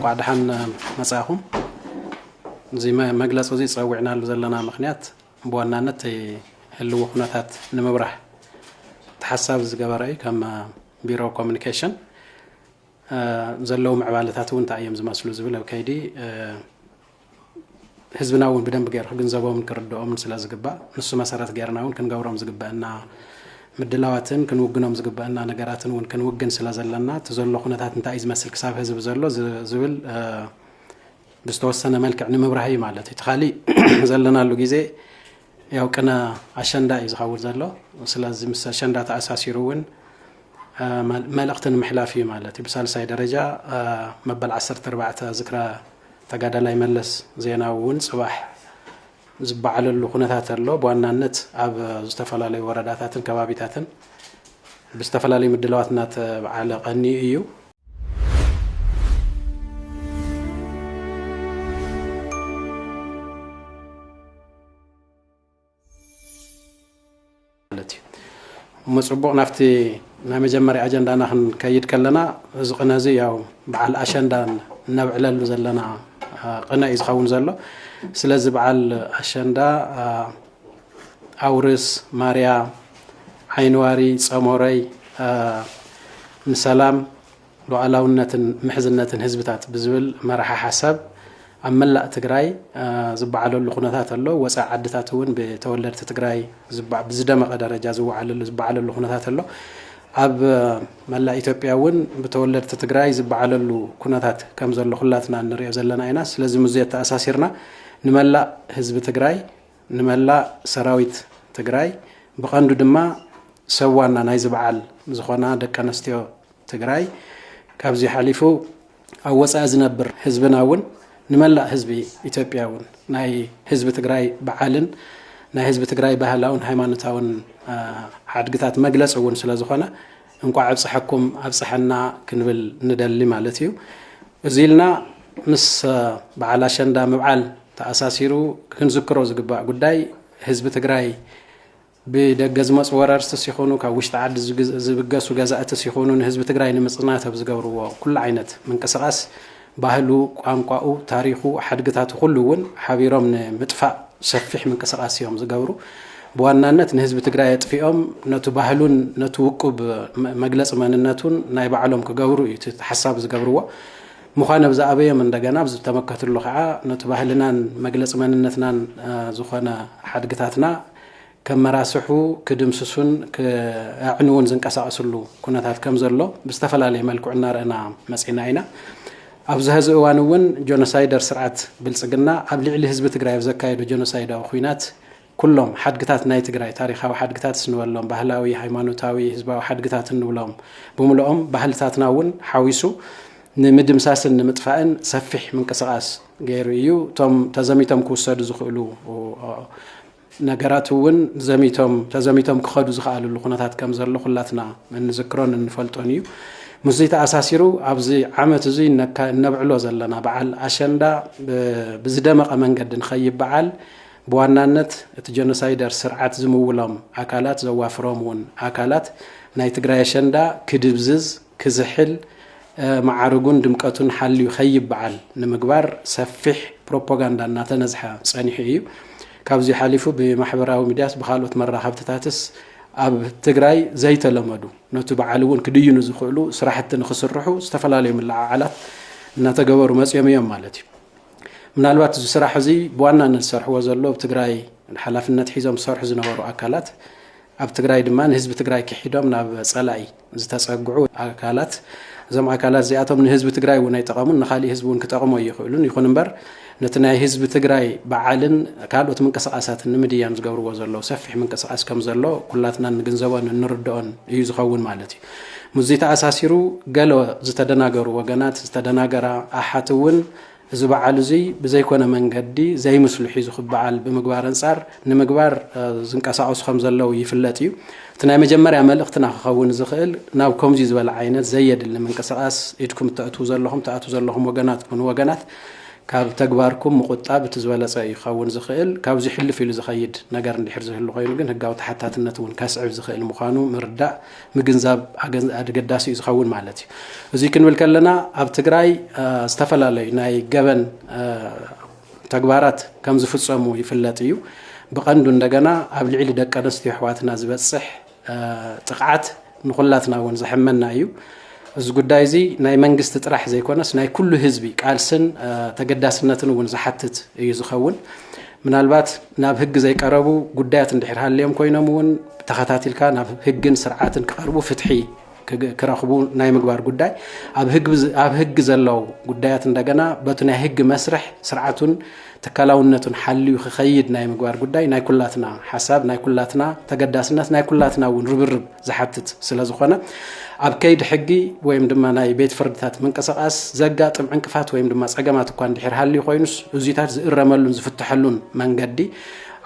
እንኳዕ ደሓን መፃኹም እዚ መግለፂ እዚ ፀዊዕናሉ ዘለና ምክንያት ብዋናነት ህልዊ ኩነታት ንምብራህ ተሓሳቢ ዝገበረ እዩ ከም ቢሮ ኮሚኒኬሽን ዘለዉ ምዕባለታት እውን እንታይ እዮም ዝመስሉ ዝብል ኣብ ከይዲ ህዝብና እውን ብደንቢ ገይሩ ክግንዘቦምን ክርድኦምን ስለ ዝግባእ ንሱ መሰረት ገይርና እውን ክንገብሮም ዝግበአና ምድላዋትን ክንውግኖም ዝግበአና ነገራትን እውን ክንውግን ስለ ዘለና እቲ ዘሎ ኩነታት እንታይ እዩ ዝመስል ክሳብ ህዝቢ ዘሎ ዝብል ብዝተወሰነ መልክዕ ንምብራህ እዩ ማለት እዩ እቲ ካሊእ ዘለናሉ ግዜ ያው ቅነ ኣሸንዳ እዩ ዝኸውን ዘሎ ስለዚ ምስ ኣሸንዳ ተኣሳሲሩ እውን መልእኽቲ ንምሕላፍ እዩ ማለት እዩ ብሳልሳይ ደረጃ መበል 14 ዝክረ ተጋዳላይ መለስ ዜናዊ እውን ፅባሕ ዝበዓለሉ ኩነታት ኣሎ። ብዋናነት ኣብ ዝተፈላለዩ ወረዳታትን ከባቢታትን ብዝተፈላለዩ ምድላዋት እናተበዓለ ቀኒዩ እዩ። ማለት እዩ እሞ ፅቡቕ ናብቲ ናይ መጀመርያ ኣጀንዳና ክንከይድ ከለና እዚ ቅነ እዚ ያው በዓል ኣሸንዳ እነብዕለሉ ዘለና ቅነ እዩ ዝኸውን ዘሎ ስለዚ በዓል ኣሸንዳ ኣውርስ ማርያ ዓይንዋሪ ፀሞረይ ንሰላም ሉኣላውነትን ምሕዝነትን ህዝብታት ብዝብል መራሒ ሓሳብ ኣብ መላእ ትግራይ ዝበዓለሉ ኩነታት ኣሎ። ወፃኢ ዓድታት እውን ብተወለድቲ ትግራይ ብዝደመቐ ደረጃ ዝበዓለሉ ኩነታት ኣሎ። ኣብ መላእ ኢትዮጵያ እውን ብተወለድቲ ትግራይ ዝበዓለሉ ኩነታት ከም ዘሎ ኩላትና እንሪኦ ዘለና ኢና። ስለዚ ምስ ኣተኣሳሲርና ንመላእ ህዝቢ ትግራይ ንመላእ ሰራዊት ትግራይ ብቐንዱ ድማ ሰብ ዋና ናይዚ በዓል ዝኾና ደቂ ኣንስትዮ ትግራይ ካብዚ ሓሊፉ ኣብ ወፃኢ ዝነብር ህዝብና እውን ንመላእ ህዝቢ ኢትዮጵያ እውን ናይ ህዝቢ ትግራይ በዓልን ናይ ህዝቢ ትግራይ ባህላውን ሃይማኖታውን ሓድግታት መግለፂ እውን ስለ ዝኾነ እንኳዕ ኣብፀሐኩም ኣብፀሐና ክንብል ንደሊ ማለት እዩ እዚ ኢልና ምስ በዓል ኣሸንዳ ምብዓል ተኣሳሲሩ ክንዝክሮ ዝግባእ ጉዳይ ህዝቢ ትግራይ ብደገ ዝመፁ ወረርስትስ ይኹኑ ካብ ውሽጢ ዓዲ ዝብገሱ ገዛእትስ ይኹኑ ንህዝቢ ትግራይ ንምፅናት ኣብ ዝገብርዎ ኩሉ ዓይነት ምንቅስቓስ ባህሉ፣ ቋንቋኡ፣ ታሪኹ፣ ሓድግታቱ ኩሉ እውን ሓቢሮም ንምጥፋእ ሰፊሕ ምንቅስቓስ እዮም ዝገብሩ። ብዋናነት ንህዝቢ ትግራይ ኣጥፊኦም ነቱ ባህሉን ነቱ ውቁብ መግለፂ መንነቱን ናይ ባዕሎም ክገብሩ እዩ እቲ ሓሳብ ዝገብርዎ። ምዃን ኣብ ዝኣበዮም እንደገና ኣብ ዝተመከትሉ ከዓ ነቱ ባህልናን መግለፂ መንነትናን ዝኾነ ሓድግታትና ከም መራስሑ ክድምስሱን ክኣዕንዉን ዝንቀሳቐስሉ ኩነታት ከም ዘሎ ብዝተፈላለየ መልክዑ እናረእና መፂእና ኢና። ኣብዚ ሀዚ እዋን እውን ጆኖሳይደር ስርዓት ብልፅግና ኣብ ልዕሊ ህዝቢ ትግራይ ኣብ ዘካየዶ ጆኖሳይዳዊ ኹናት ኩሎም ሓድግታት ናይ ትግራይ ታሪኻዊ ሓድግታት ስንበሎም ባህላዊ፣ ሃይማኖታዊ፣ ህዝባዊ ሓድግታት እንብሎም ብምልኦም ባህልታትና እውን ሓዊሱ ንምድምሳስን ንምጥፋእን ሰፊሕ ምንቅስቓስ ገይሩ እዩ። እቶም ተዘሚቶም ክውሰዱ ዝኽእሉ ነገራት እውን ዘሚቶም ተዘሚቶም ክኸዱ ዝኽኣልሉ ኩነታት ከም ዘሎ ኩላትና እንዝክሮን እንፈልጦን እዩ። ምስዚ ተኣሳሲሩ ኣብዚ ዓመት እዚ እነብዕሎ ዘለና በዓል ኣሸንዳ ብዝደመቐ መንገዲ ንኸይበዓል ብዋናነት እቲ ጀኖሳይደር ስርዓት ዝምውሎም ኣካላት ዘዋፍሮም እውን ኣካላት ናይ ትግራይ ኣሸንዳ ክድብዝዝ ክዝሕል፣ መዓርጉን ድምቀቱን ሓልዩ ከይበዓል ንምግባር ሰፊሕ ፕሮፖጋንዳ እናተነዝሐ ፀኒሑ እዩ። ካብዙይ ሓሊፉ ብማሕበራዊ ሚዲያስ ብካልኦት መራኸብትታትስ ኣብ ትግራይ ዘይተለመዱ ነቱ በዓል እውን ክድይኑ ዝኽእሉ ስራሕቲ ንክስርሑ ዝተፈላለዩ ምልዓዓላት እናተገበሩ መፅዮም እዮም ማለት እዩ። ምናልባት እዚ ስራሕ እዚ ብዋናነት ዝሰርሕዎ ዘሎ ኣብ ትግራይ ሓላፍነት ሒዞም ዝሰርሑ ዝነበሩ ኣካላት ኣብ ትግራይ ድማ ንህዝቢ ትግራይ ክሒዶም ናብ ፀላኢ ዝተፀግዑ ኣካላት እዞም ኣካላት እዚኣቶም ንህዝቢ ትግራይ እውን ኣይጠቐሙን ንካሊእ ህዝቢ እውን ክጠቕሙ ኣይኽእሉን ይኹን እምበር ነቲ ናይ ህዝቢ ትግራይ በዓልን ካልኦት ምንቅስቃሳትን ንምድያም ዝገብርዎ ዘለዉ ሰፊሕ ምንቅስቃስ ከም ዘሎ ኩላትናን ንግንዘቦን እንርድኦን እዩ ዝኸውን ማለት እዩ ምስዚ ተኣሳሲሩ ገለ ዝተደናገሩ ወገናት ዝተደናገራ ኣሓት እውን እዚ በዓል እዙይ ብዘይኮነ መንገዲ ዘይምስሉ ሒዙ ክበዓል ብምግባር ኣንፃር ንምግባር ዝንቀሳቐሱ ከም ዘለዉ ይፍለጥ እዩ። እቲ ናይ መጀመርያ መልእኽትና ክኸውን ዝኽእል ናብ ከምዙይ ዝበለ ዓይነት ዘየድሊ ምንቅስቓስ ኢድኩም እተእትዉ ዘለኹም ትኣትዉ ዘለኹም ወገናት ኩኑ ወገናት ካብ ተግባርኩም ምቑጣብ እቲ ዝበለፀ እዩ ክኸውን ዝኽእል። ካብዙይ ሕልፍ ኢሉ ዝኸይድ ነገር እንድሕር ዝህሉ ኮይኑ ግን ህጋዊ ተሓታትነት እውን ከስዕብ ዝኽእል ምዃኑ ምርዳእ ምግንዛብ ኣገዳሲ እዩ ዝኸውን ማለት እዩ። እዙይ ክንብል ከለና ኣብ ትግራይ ዝተፈላለዩ ናይ ገበን ተግባራት ከም ዝፍፀሙ ይፍለጥ እዩ። ብቐንዱ እንደገና ኣብ ልዕሊ ደቂ ኣንስትዮ ኣሕዋትና ዝበፅሕ ጥቕዓት ንኹላትና እውን ዘሕመና እዩ። እዚ ጉዳይ እዚ ናይ መንግስቲ ጥራሕ ዘይኮነስ ናይ ኩሉ ህዝቢ ቃልስን ተገዳስነትን እውን ዝሓትት እዩ ዝኸውን። ምናልባት ናብ ህጊ ዘይቀረቡ ጉዳያት እንድሕር ሃልዮም ኮይኖም እውን ተኸታቲልካ ናብ ህግን ስርዓትን ክቐርቡ ፍትሒ ክረኽቡ ናይ ምግባር ጉዳይ ኣብ ህጊ ዘለዉ ጉዳያት እንደገና በቲ ናይ ህጊ መስርሕ ስርዓቱን ትካላውነቱን ሓልዩ ክኸይድ ናይ ምግባር ጉዳይ ናይ ኩላትና ሓሳብ፣ ናይ ኩላትና ተገዳስነት፣ ናይ ኩላትና እውን ርብርብ ዝሓትት ስለ ዝኾነ ኣብ ከይዲ ሕጊ ወይም ድማ ናይ ቤት ፍርድታት ምንቅስቓስ ዘጋጥም ዕንቅፋት ወይም ድማ ጸገማት እኳ እንድሕር ሃልዩ ኮይኑስ እዙይታት ዝእረመሉን ዝፍትሐሉን መንገዲ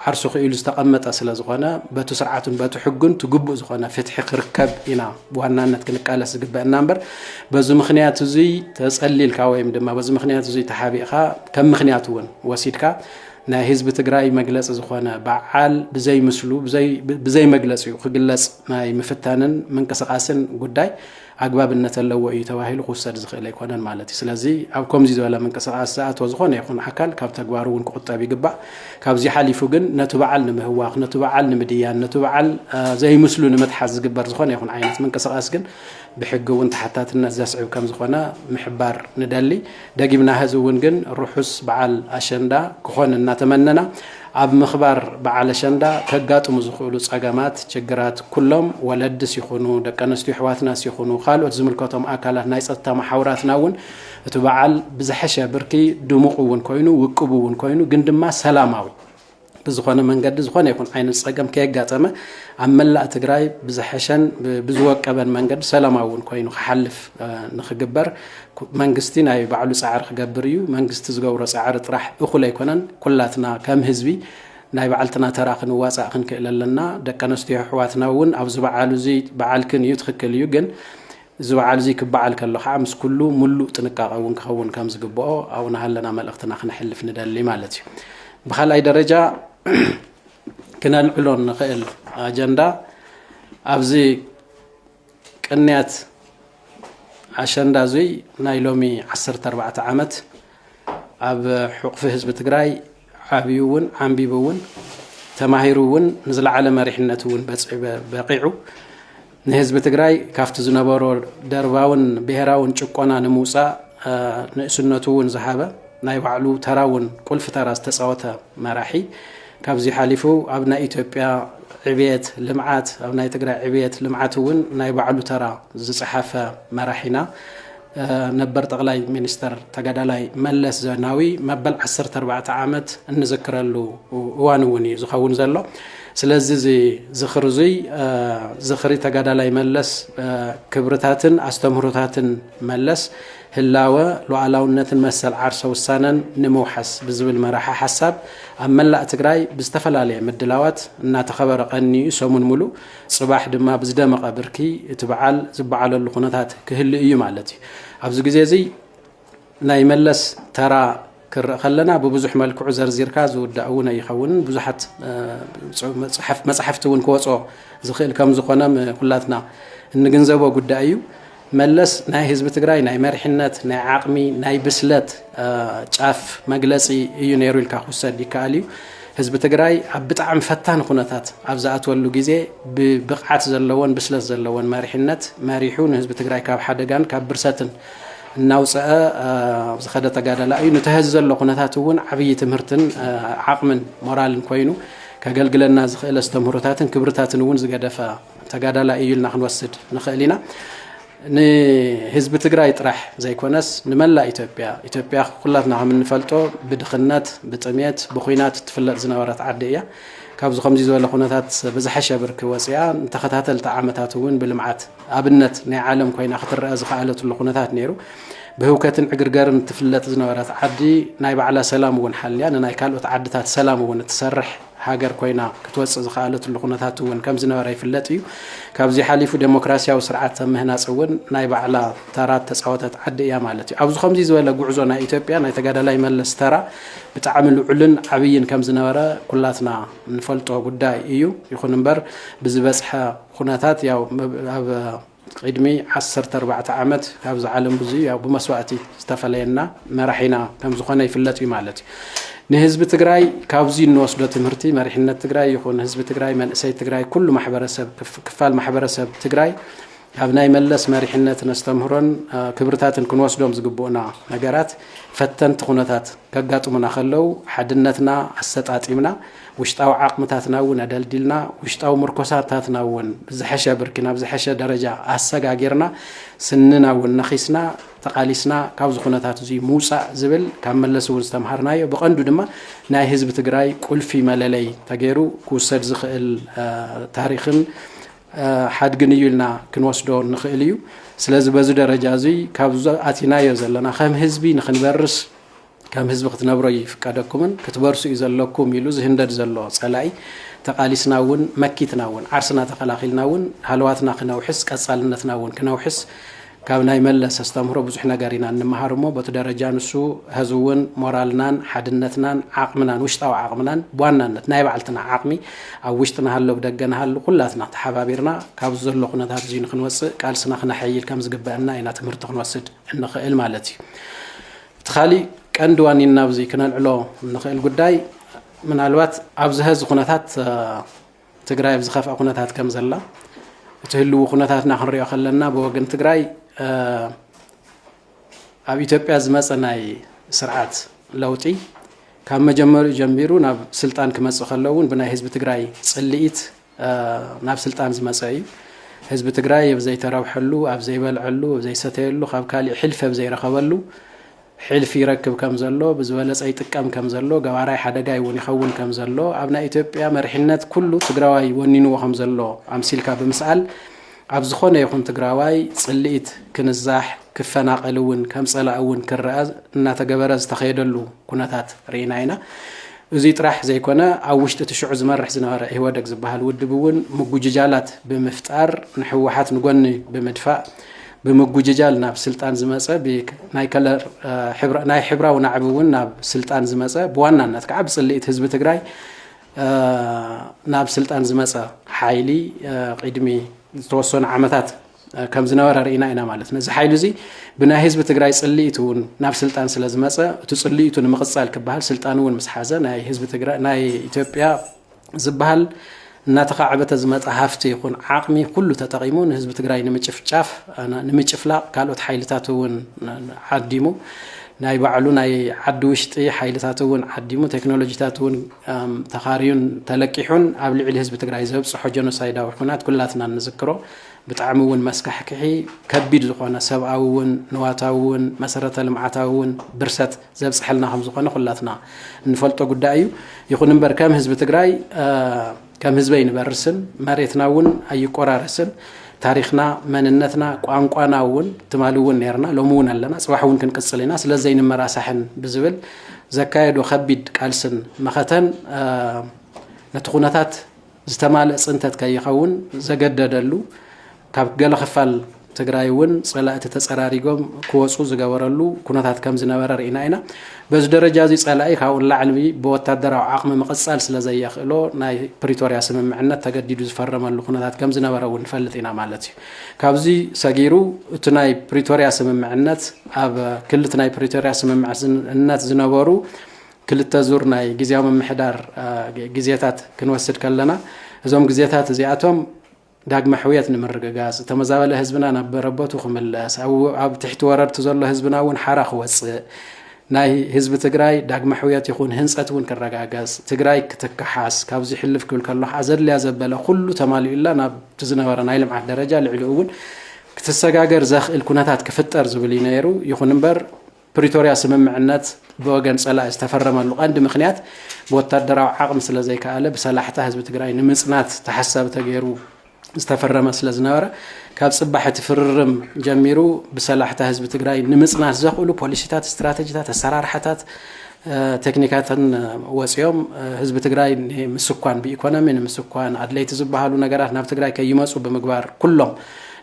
ዓርሱ ክኢሉ ዝተቐመጠ ስለ ዝኾነ በቱ ስርዓቱን በቱ ሕጉን ትግቡእ ዝኾነ ፍትሒ ክርከብ ኢና ብዋናነት ክንቃለስ ዝግበእና እምበር በዚ ምክንያት እዙይ ተፀሊልካ ወይም ድማ በዚ ምክንያት እዙይ ተሓቢእኻ ከም ምክንያት እውን ወሲድካ ናይ ህዝቢ ትግራይ መግለፂ ዝኾነ በዓል ብዘይ ምስሉ ብዘይ መግለፂኡ ክግለፅ ናይ ምፍታንን ምንቅስቃስን ጉዳይ ኣግባብነት ኣለዎ እዩ ተባሂሉ ክውሰድ ዝኽእል ኣይኮነን ማለት እዩ ስለዚ ኣብ ከምዚ ዝበለ ምንቅስቃስ ዝኣተወ ዝኾነ ይኹን ኣካል ካብ ተግባሩ እውን ክቁጠብ ይግባእ ካብዚ ሓሊፉ ግን ነቲ በዓል ንምህዋኽ፣ ነቲ በዓል ንምድያን፣ ነቲ በዓል ዘይምስሉ ንምትሓዝ ዝግበር ዝኾነ ይኹን ዓይነት ምንቅስቓስ ግን ብሕጊ እውን ተሓታትነት ዘስዕብ ከምዝኾነ ምሕባር ንደሊ። ደጊምና ሀዚ እውን ግን ርሑስ በዓል ኣሸንዳ ክኾን እናተመነና ኣብ ምኽባር በዓል ኣሸንዳ ከጋጥሙ ዝኽእሉ ፀገማት፣ ችግራት ኩሎም ወለድስ ይኹኑ ደቂ ኣነስትዮ ኣሕዋትናስ ይኹኑ ካልኦት ዝምልከቶም ኣካላት ናይ ፀጥታ መሓውራትና እውን እቲ በዓል ብዝሐሸ ብርኪ ድሙቕ እውን ኮይኑ ውቅቡ እውን ኮይኑ ግን ድማ ሰላማዊ ብዝኾነ መንገዲ ዝኾነ ይኹን ዓይነት ፀገም ከየጋጠመ ኣብ መላእ ትግራይ ብዝሐሸን ብዝወቀበን መንገዲ ሰላማዊ እውን ኮይኑ ክሓልፍ ንክግበር መንግስቲ ናይ ባዕሉ ፃዕሪ ክገብር እዩ። መንግስቲ ዝገብሮ ፃዕሪ ጥራሕ እኹል ኣይኮነን። ኩላትና ከም ህዝቢ ናይ ባዕልትና ተራ ክንዋፃእ ክንክእል ኣለና ደቂ ኣነስትዮ ኣሕዋትና እውን ኣብዚ በዓል እዚ በዓልክን እዩ ትክክል እዩ ግን እዚ በዓል እዚ ክበዓል ከሎ ከዓ ምስ ኩሉ ምሉእ ጥንቃቐ እውን ክኸውን ከም ዝግበኦ ኣብኡ ናሃለና መልእኽትና ክነሕልፍ ንደሊ ማለት እዩ። ብካልኣይ ደረጃ ክነልዕሎ እንኽእል ኣጀንዳ ኣብዚ ቅንያት ኣሸንዳ እዙይ ናይ ሎሚ ዓሰርተ ኣርባዕተ ዓመት ኣብ ሑቕፊ ህዝቢ ትግራይ ዓብዩ እውን ዓምቢቡ እውን ተማሂሩ እውን ንዝለዓለ መሪሕነት እውን በቂዑ ንህዝቢ ትግራይ ካብቲ ዝነበሮ ደርባውን ብሄራውን ጭቆና ንምውፃእ ንእስነቱ እውን ዝሃበ ናይ ባዕሉ ተራ እውን ቁልፊ ተራ ዝተፃወተ መራሒ ካብዚ ሓሊፉ ኣብ ናይ ኢትዮጵያ ዕብየት ልምዓት ኣብ ናይ ትግራይ ዕብየት ልምዓት እውን ናይ ባዕሉ ተራ ዝፀሓፈ መራሒና ነበር ጠቕላይ ሚኒስተር ተጋዳላይ መለስ ዘናዊ መበል ዓሰርተ ኣርባዕተ ዓመት እንዝክረሉ እዋን እውን እዩ ዝኸውን ዘሎ ስለዚ እዚ ዝኽሪ እዙይ ዝኽሪ ተጋዳላይ መለስ ክብርታትን ኣስተምህሮታትን መለስ ህላወ ሉዓላውነትን መሰል ዓርሰ ውሳነን ንምውሓስ ብዝብል መራሒ ሓሳብ ኣብ መላእ ትግራይ ብዝተፈላለየ ምድላዋት እናተኸበረ ቀኒዩ ሰሙን ሙሉ ፅባሕ ድማ ብዝደመቐ ብርኪ እቲ በዓል ዝበዓለሉ ኩነታት ክህሊ እዩ ማለት እዩ። ኣብዚ ግዜ እዚ ናይ መለስ ተራ ክርኢ ከለና ብብዙሕ መልክዑ ዘርዚርካ ዝውዳእ እውን ኣይኸውንን ብዙሓት መፅሓፍቲ እውን ክወፅኦ ዝኽእል ከም ዝኾነ ኩላትና እንግንዘቦ ጉዳይ እዩ። መለስ ናይ ህዝቢ ትግራይ ናይ መሪሕነት፣ ናይ ዓቕሚ፣ ናይ ብስለት ጫፍ መግለፂ እዩ ነይሩ ኢልካ ክውሰድ ይከኣል እዩ። ህዝቢ ትግራይ ኣብ ብጣዕሚ ፈታኒ ኩነታት ኣብ ዝኣትወሉ ግዜ ብብቕዓት ዘለዎን ብስለት ዘለዎን መሪሕነት መሪሑ ንህዝቢ ትግራይ ካብ ሓደጋን ካብ ብርሰትን እናውፀአ ዝኸደ ተጋዳላይ እዩ። ንተህዚ ዘሎ ኩነታት እውን ዓብዪ ትምህርትን ዓቕምን ሞራልን ኮይኑ ከገልግለና ዝኽእል ኣስተምህሮታትን ክብርታትን እውን ዝገደፈ ተጋዳላይ እዩ ኢልና ክንወስድ ንኽእል ኢና። ንህዝቢ ትግራይ ጥራሕ ዘይኮነስ ንመላእ ኢትዮጵያ፣ ኢትዮጵያ ኩላትና ከም እንፈልጦ ብድኽነት፣ ብጥሜት፣ ብኹናት እትፍለጥ ዝነበረት ዓዲ እያ። ካብዚ ከምዚ ዝበለ ኩነታት ብዝሓሸ ብርኪ ወፂኣ ንተኸታተልቲ ዓመታት እውን ብልምዓት ኣብነት ናይ ዓለም ኮይና ክትረአ ዝኸኣለትሉ ኩነታት ነይሩ። ብህውከትን ዕግርገርን እትፍለጥ ዝነበረት ዓዲ ናይ ባዕላ ሰላም እውን ሓልያ ንናይ ካልኦት ዓድታት ሰላም እውን እትሰርሕ ሃገር ኮይና ክትወጽእ ዝኸኣለትሉ ኩነታት እውን ከም ዝነበረ ይፍለጥ እዩ። ካብዚ ሓሊፉ ደሞክራስያዊ ስርዓት ኣብ ምህናጽ እውን ናይ ባዕላ ተራ እተጻወተት ዓዲ እያ ማለት እዩ። ኣብዚ ከምዚ ዝበለ ጉዕዞ ናይ ኢትዮጵያ ናይ ተጋዳላይ መለስ ተራ ብጣዕሚ ልዑልን ዓብይን ከም ዝነበረ ኩላትና እንፈልጦ ጉዳይ እዩ። ይኹን እምበር ብዝበጽሐ ኩነታት ያው ኣብ ቕድሚ ዓሰርተ ኣርባዕተ ዓመት ካብዛ ዓለም ብዙ ያው ብመስዋእቲ ዝተፈለየና መራሒና ከም ዝኾነ ይፍለጥ እዩ ማለት እዩ። ንህዝቢ ትግራይ ካብዙ እንወስዶ ትምህርቲ መሪሕነት ትግራይ ይኹን ህዝቢ ትግራይ መንእሰይ ትግራይ ኩሉ ማሕበረሰብ ክፋል ማሕበረሰብ ትግራይ ካብ ናይ መለስ መሪሕነት ነስተምህሮን ክብርታትን ክንወስዶም ዝግብኡና ነገራት ፈተንቲ ኩነታት ከጋጥሙና ከለው ሓድነትና ኣሰጣጢምና ውሽጣዊ ዓቕምታትና እውን ኣደልዲልና፣ ውሽጣዊ ምርኮሳታትና እውን ብዝሐሸ ብርኪ ናብ ዝሐሸ ደረጃ ኣሰጋጊርና፣ ስንና እውን ነኺስና ተቓሊስና ካብዚ ኩነታት እዙይ ምውፃእ ዝብል ካብ መለስ እውን ዝተምሃርናዮ ብቐንዱ ድማ ናይ ህዝቢ ትግራይ ቁልፊ መለለይ ተገይሩ ክውሰድ ዝኽእል ታሪኽን ሓድግን እዩ ኢልና ክንወስዶ ንኽእል እዩ። ስለዚ በዚ ደረጃ እዙይ ካብዚ ኣቲናዮ ዘለና ከም ህዝቢ ንክንበርስ ከም ህዝቢ ክትነብሩ ኣይፍቀደኩምን ክትበርሱ እዩ ዘለኩም ኢሉ ዝህንደድ ዘሎ ፀላኢ ተቓሊስና እውን መኪትና እውን ዓርስና ተኸላኺልና እውን ሃለዋትና ክነውሕስ ቀፃልነትና እውን ክነውሕስ ካብ ናይ መለስ ኣስተምህሮ ብዙሕ ነገር ኢና እንመሃር እሞ በቲ ደረጃ ንሱ ሀዚ እውን ሞራልናን ሓድነትናን ዓቕምናን ውሽጣዊ ዓቕምናን ብዋናነት ናይ ባዕልትና ዓቕሚ ኣብ ውሽጢ ንሃሎ ብደገ ንሃሉ ኩላትና ተሓባቢርና ካብዚ ዘሎ ኩነታት እዙይ ንክንወፅእ ቃልስና ክነሐይል ከም ዝግበአና ኢና ትምህርቲ ክንወስድ እንኽእል ማለት እዩ እቲ ካሊእ ቀንዲ ዋኒና ኣብዚ ክነልዕሎ እንኽእል ጉዳይ ምናልባት ኣብዚ ሀዚ ኩነታት ትግራይ ኣብ ዝኸፍኣ ኩነታት ከም ዘላ እቲ ህልዊ ኩነታትና ክንሪኦ ከለና ብወገን ትግራይ ኣብ ኢትዮጵያ ዝመፀ ናይ ስርዓት ለውጢ ካብ መጀመሪኡ ጀሚሩ ናብ ስልጣን ክመፅእ ከለውን ብናይ ህዝቢ ትግራይ ፅልኢት ናብ ስልጣን ዝመፀ እዩ። ህዝቢ ትግራይ ኣብ ዘይተረብሐሉ፣ ኣብ ዘይበልዐሉ፣ ኣብ ዘይሰተየሉ፣ ካብ ካሊእ ሕልፊ ኣብ ዘይረኸበሉ ሕልፊ ይረክብ ከም ዘሎ፣ ብዝበለፀ ይጥቀም ከም ዘሎ፣ ገባራይ ሓደጋይ እውን ይኸውን ከም ዘሎ፣ ኣብ ናይ ኢትዮጵያ መሪሕነት ኩሉ ትግራዋይ ወኒንዎ ከም ዘሎ ኣምሲልካ ብምስኣል ኣብ ዝኾነ ይኹን ትግራዋይ ፅልኢት ክንዛሕ፣ ክፈናቐል እውን ከም ፀላኢ እውን ክረኣ እናተገበረ ዝተኸየደሉ ኩነታት ርኢና ኢና። እዙይ ጥራሕ ዘይኮነ ኣብ ውሽጢ እቲ ሽዑ ዝመርሕ ዝነበረ ኢህወደግ ዝበሃል ውድብ እውን ምጉጅጃላት ብምፍጣር ንህወሓት ንጎኒ ብምድፋእ ብምጉጅጃል ናብ ስልጣን ዝመፀ ናይ ከለር ናይ ሕብራዊ ናዕቢ እውን ናብ ስልጣን ዝመፀ ብዋናነት ከዓ ብፅልኢት ህዝቢ ትግራይ ናብ ስልጣን ዝመፀ ሓይሊ ቕድሚ ዝተወሰኑ ዓመታት ከም ዝነበረ ርኢና ኢና ማለት ነዚ ሓይሊ እዚ ብናይ ህዝቢ ትግራይ ፅልኢት እውን ናብ ስልጣን ስለ ዝመፀ እቲ ፅልኢቱ ንምቕፃል ክበሃል ስልጣን እውን ምስ ሓዘ ናይ ህዝቢ ትግራይ ናይ ኢትዮጵያ ዝበሃል እናተኻዕበተ ዝመፀ ሃፍቲ ይኹን ዓቕሚ ኩሉ ተጠቒሙ ንህዝቢ ትግራይ ንምጭፍጫፍ ንምጭፍላቕ ካልኦት ሓይልታት እውን ዓዲሙ ናይ ባዕሉ ናይ ዓዲ ውሽጢ ሓይልታት እውን ዓዲሙ፣ ቴክኖሎጂታት እውን ተኻርዩን ተለቂሑን ኣብ ልዕሊ ህዝቢ ትግራይ ዘብፅሖ ጀኖሳይዳዊ ኹናት ኩላትና እንዝክሮ ብጣዕሚ እውን መስካሕክሒ ከቢድ ዝኾነ ሰብኣዊ እውን ንዋታዊ እውን መሰረተ ልምዓታዊ እውን ብርሰት ዘብፅሐልና ከም ዝኾነ ኩላትና እንፈልጦ ጉዳይ እዩ። ይኹን እምበር ከም ህዝቢ ትግራይ ከም ህዝቢ ኣይንበርስን፣ መሬትና እውን ኣይቆራረስን፣ ታሪኽና፣ መንነትና፣ ቋንቋና እውን ትማሊ እውን ነይርና፣ ሎሚ እውን ኣለና፣ ፅባሕ እውን ክንቅፅል ኢና፣ ስለ ዘይንመራሳሕን ብዝብል ዘካየዶ ከቢድ ቃልስን መኸተን ነቲ ኩነታት ዝተማልእ ፅንተት ከይኸውን ዘገደደሉ ካብ ገለ ክፋል ትግራይ እውን ፀላእቲ ተፀራሪጎም ክወፁ ዝገበረሉ ኩነታት ከም ዝነበረ ርኢና ኢና። በዚ ደረጃ እዚ ፀላኢ ካብኡ ንላዕሊ ብወታደራዊ ዓቕሚ ምቕፃል ስለ ዘየኽእሎ ናይ ፕሪቶርያ ስምምዕነት ተገዲዱ ዝፈረመሉ ኩነታት ከም ዝነበረ እውን ንፈልጥ ኢና ማለት እዩ። ካብዚ ሰጊሩ እቲ ናይ ፕሪቶርያ ስምምዕነት ኣብ ክልት ናይ ፕሪቶርያ ስምምዕነት ዝነበሩ ክልተ ዙር ናይ ግዜያዊ ምምሕዳር ግዜታት ክንወስድ ከለና እዞም ግዜታት እዚኣቶም ዳግመ ሕውየት ንምርግጋፅ፣ ዝተመዛበለ ህዝብና ናብ መረበቱ ክምለስ፣ ኣብ ትሕቲ ወረርቲ ዘሎ ህዝብና እውን ሓራ ክወፅእ፣ ናይ ህዝቢ ትግራይ ዳግመ ሕውየት ይኹን ህንፀት እውን ክረጋገፅ፣ ትግራይ ክትከሓስ፣ ካብዚ ሕልፍ ክብል ከሎ ከዓ ዘድልያ ዘበለ ኩሉ ተማሊኡላ ናብቲ ዝነበረ ናይ ልምዓት ደረጃ ልዕሊኡ እውን ክትሰጋገር ዘኽእል ኩነታት ክፍጠር ዝብል እዩ ነይሩ። ይኹን እምበር ፕሪቶርያ ስምምዕነት ብወገን ፀላኢ ዝተፈረመሉ ቀንዲ ምኽንያት ብወታደራዊ ዓቕሚ ስለዘይከኣለ ብሰላሕታ ህዝቢ ትግራይ ንምፅናት ተሓሳቢ ተገይሩ ዝተፈረመ ስለዝነበረ ካብ ፅባሕ እቲ ፍርርም ጀሚሩ ብሰላሕታ ህዝቢ ትግራይ ንምፅናት ዘኽእሉ ፖሊሲታት፣ ስትራተጂታት፣ ኣሰራርሓታት ቴክኒካትን ወፂኦም ህዝቢ ትግራይ ንምስኳን ብኢኮኖሚ ንምስኳን ኣድለይቲ ዝበሃሉ ነገራት ናብ ትግራይ ከይመፁ ብምግባር ኩሎም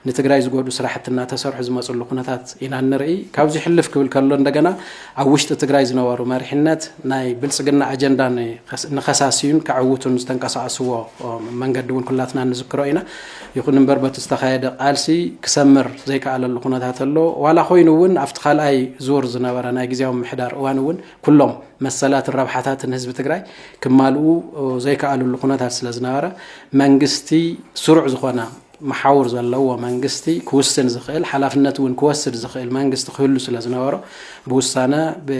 ንትግራይ ዝጎድኡ ስራሕቲ እናተሰርሑ ዝመፅሉ ኩነታት ኢና እንርኢ። ካብዚ ሕልፍ ክብል ከሎ እንደገና ኣብ ውሽጢ ትግራይ ዝነበሩ መሪሕነት ናይ ብልፅግና ኣጀንዳ ንከሳስዩን ከዕውቱን ዝተንቀሳቐስዎ መንገዲ እውን ኩላትና እንዝክሮ ኢና። ይኹን እምበር በቲ ዝተኻየደ ቃልሲ ክሰምር ዘይከኣለሉ ኩነታት ኣሎ። ዋላ ኮይኑ እውን ኣብቲ ካልኣይ ዙር ዝነበረ ናይ ግዜያዊ ምምሕዳር እዋን እውን ኩሎም መሰላትን ረብሓታትን ህዝቢ ትግራይ ክማልኡ ዘይከኣልሉ ኩነታት ስለዝነበረ መንግስቲ ስሩዕ ዝኾነ መሓውር ዘለዎ መንግስቲ ክውስን ዝኽእል ሓላፍነት እውን ክወስድ ዝኽእል መንግስቲ ክህሉ ስለ ዝነበሮ ብውሳነ ብ